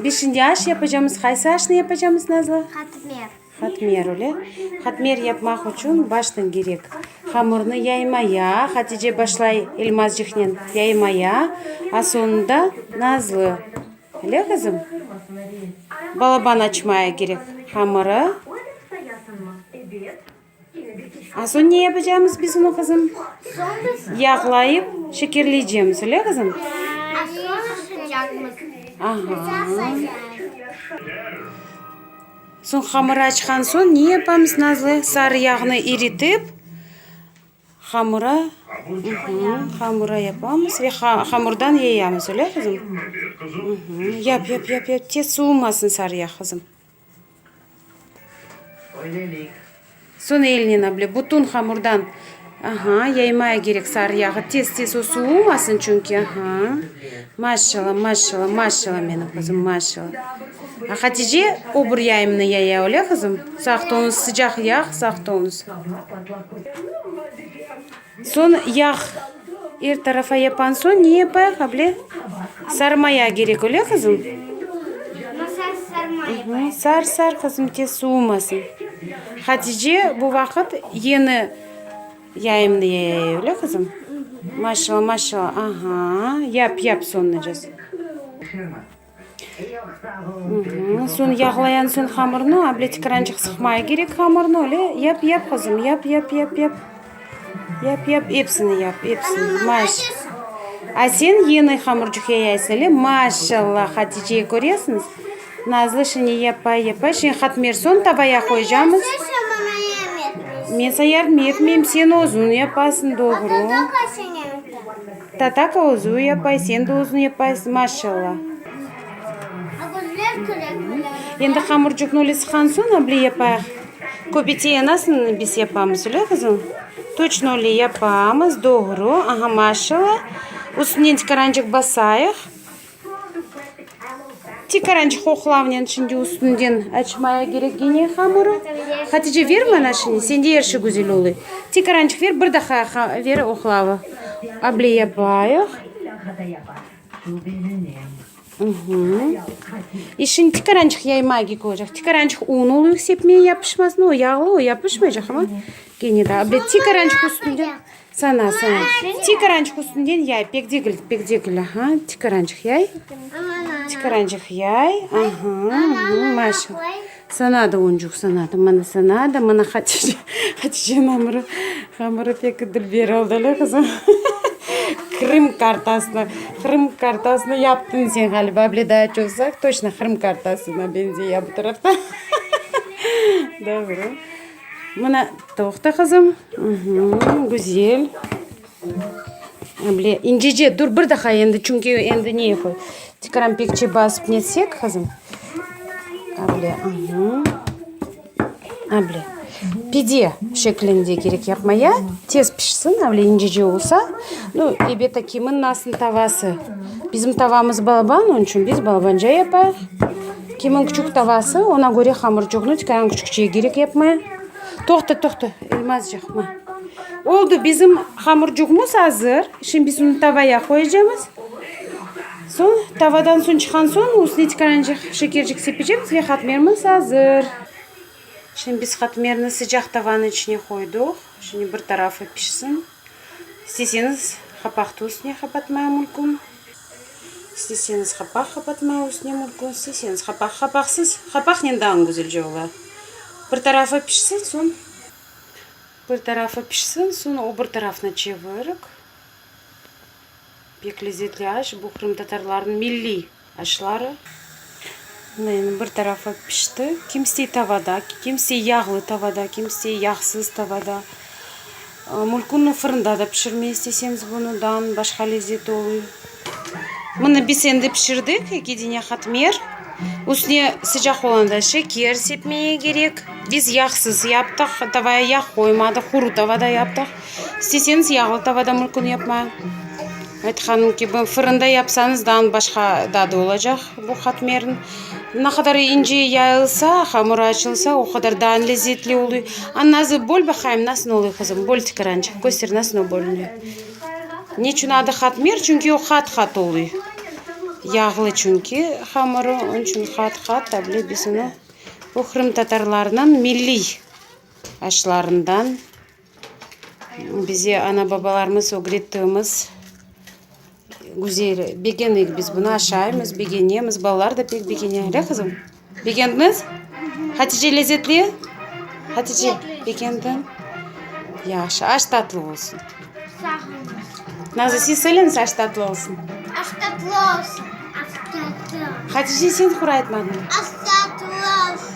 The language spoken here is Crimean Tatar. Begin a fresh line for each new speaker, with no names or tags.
Beşinci aş yapacamız. Qaysı aşnı yapacamız, Nazlı? Qatmer.
Qatmer, öyle.
Qatmer yapmaq içün baştan kerek. Hamırnı yaymaya, Hatice başlay Elmazcıqnen yaymaya, a soñunda Nazlı. Öyle, qızım? Balaban açmaya kerek hamırı. Asoñ ne yapacamız biz onı, qızım? Yağlayıp, şekerleycemiz, öyle, qızım? Aha. Soñ hamırı açqan soñ ne yapamız, Nazlı? Sarı yağnı eritip, hamıra, hamıra yapamız ve hamırdan yayamız, öyle, qızım? Yap, yap, yap, yap, tez, suvumasın sarı yağ, qızım. Soñ elnen ble bütün hamurdan aha yaymaya gerek sarı yağı tez tez o suvumasın çünki aha maşşala maşşala maşşala meni qızım maşşala hatice o bir yayımnı yaya öyle qızım saqtınız sıcaq yağ saqtınız Soñ yağ er tarafa yapan soñ ne yapayıq able? Sarmaya kerek, öyle qızım? Masaj sarma yapayıq. Sar sar qızım tez suvumasın. Hatice bu vaqıt yeni yayımnı yayay, öyle qızım? Maşallah maşallah aha yap yap soñuncası. Soñ yağlayan soñ hamırnı, able tikirançıq sıqmaya kerek hamırnı, öyle yap, yap, qızım, yap, yap, yap, yap, yap, yap, epsini yap, epsini, maş. A sen yeni hamırcıq yayaysa, öyle, maşşalla, Haticeye köresiñiz, nazlı şine yapay, yapay, şine hatmer, soñ tavaya qoyacamız. Men sañ yardım etmeyim, sen özüñ yapasıñ, doğru. Tataka özü yapay, sen de özün yapaysın, maşalla. Endi hamurcuqnı öyle sıqan soñ able yapayıq. Köpetiye nasıl biz yapamız, öyle qızım? Toçno öyle yapamız, doğru. Aha, maşalla. Üstünden tikarançıq basayıq. Tikaranç hoqlavnen şimdi üstünden açmaya kerek gene hamurı. Hatice ver bana şimdi sende er şey güzel oluy. Tikaranç ver bir daha ver hoqlavı. Able yapayıq. E şimdi tikaranç yaymaya gerek olacaq. Tikaranç un oluy sepmeye yapışmasın o yağlı o yapışmayacaq ama gene de able tikaranç üstünden. Sana, sana. Tikerançıq üstünden yay. Pek degil, pek degil. Aha, tikerançıq yay. Tikerançıq yay. Aha, aha, maşa. Sana da oncuq, sana da. Mana sana da, mana Hatice. Haticenin amırı, amırı pek dülber oldı, ele qızım. Qırım kartasına, Qırım kartasına yaptın sen ğaliba. Bile daa çoqsaq, toçna Qırım kartasına benzey ya bu tarafta. Doğru. Mına, toqta, qızım. Güzel. Böyle incece, dur, bir daha endi, çünki endi ne qoy, tekrar pekçe basıp netsek, qızım. Böyle, böyle. Pide şeklinde gerek yapmaya, tez pişsin, böyle incece olsa. Nu, elbette, kimin nasıl tavası. Bizim tavamız balaban, onun içün biz balabanca yapayıq. Kimiñ küçük tavası, oña köre hamırçuqnı tikayañ küçükçeye kerek yapmaya. Toqta, toqta, elmazcıq, mı. Oldu, bizim hamırçuqmız azır. Şimdi biz onı tavaya qoyacamız. Soñ, tavadan suñ çıqqan soñ, üstüne tikayancıq şekercik sepecemiz ve qatmermiz azır. Şimdi biz qatmerni sıcaq tavanıñ içine qoydıq. Şimdi bir tarafı pişsin. İsteseñiz qapahtı üstüne qapatmaya mülkün, isteseñiz qapaq qapatmaya üstüne mülkün, isteseñiz qapaq qapaqsız, qapaqnen daa güzelce ola. Bir tarafı pişsin, soñ bir tarafı pişsin, soñ o bir tarafına çevirik. Pek lezetli aş, bu qırımtatarlarnıñ milliy Aşları, yani bir tarafı pişti, kimisi tavada, kimisi yağlı tavada, kimisi yağsız tavada. Mülkünni fırında da pişirmey isteseñiz, bunıdan başqa lezzeti oluy. Mını biz endi pişirdik, eki dene katmer. Üstüne sıcaq olanda şeker sepmeye kerek. Biz yağsız yaptıq, tavaya yağ qoymadıq, quru tavada yaptıq. İsteseñiz yağlı tavada mülkün yapma, aytqanım kibi, fırında yapsañız daa başqa dadı olacaq bu qatmerniñ. Na qadar ince yayılsa, hamurı açılsa, o qadar daa lezzetli oluy. A nazı böl baqayım nasıl oluy qızım, böl tikirançıq, köster nasıl bölünüy. Neçün adı qatmer? Çünki o qat-qat oluy. Yağlı çünki hamurı, onıñ içün qat-qat tabile biz onı, bu qırımtatarlarnıñ milliy aşlarından. Bize ana-babalarımız ögrettiğimiz güzel, begenik biz bunı, aşaymız, begenemiz, balalar da pek begene, le qızım? Begendiñiz? Hatice lezetli? Hatice, begendiñ? Yahşı, aş tatlı olsun. Sağ
olun. Nazı, siz
söyleñiz, aş tatlı olsun. Aş
tatlı
olsun.
Aş tatlı. Hatice, sen
qura aytmadın.
Aş tatlı olsun.